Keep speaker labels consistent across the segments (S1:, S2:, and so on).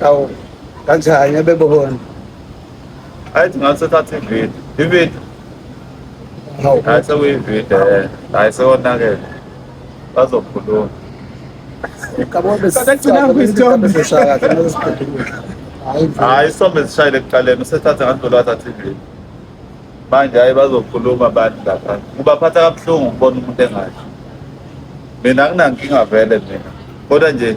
S1: Awu kanjani abebona?
S2: Ayithi ngathi thatha ivideo. Ivideo. Hawu.
S1: Hayi sekuyivideo
S2: eh. Hayi sewonakele.
S1: Bazokhuluma. Hayi
S2: isithombe sishayile ekuqaleni usethathe ngandlula wathatha ivideo. Manje hayi bazokhuluma abantu lapha. Kubaphatha kabuhlungu ukubona umuntu engathi. Mina anginankinga vele mina. Kodwa nje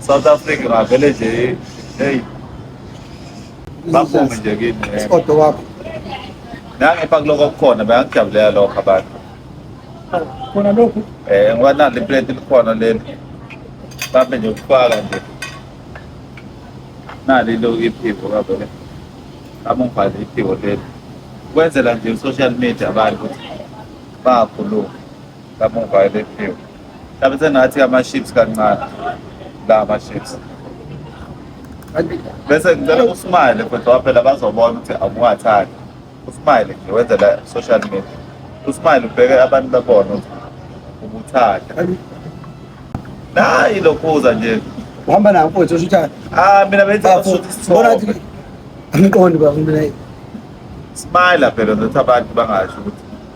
S2: South Africa ngavele nje hey baphume nje kimi Isikhodo
S1: wakho.
S2: nangipha kuloko kukhona bayakujabulela lokho abantu
S1: Khona lokhu. eh ngoba nalo iplate
S2: likhona leli babe nje ukufaka nje nali lo iphiwo kabele amungibhale iphiwo leli kwenzela nje social media abantu bakhuluma kamuva elephiwe mhlawumbe sengathi ama-ships kancane la ama-ships bese ngicela usmile mfethu waphela bazobona ukuthi awungathandi usmile nje wenzela social media usmile ubheke abantu babona ukuthi ubuthanda nayi lokhuza nje uhamba nawo mfowethu
S1: osho ukuthi ah mina benza Bafo,
S2: usuthi isithombe. bona ukuthi angiqondi
S1: bafo mina smile
S2: phela nokuthi abantu bangasho ukuthi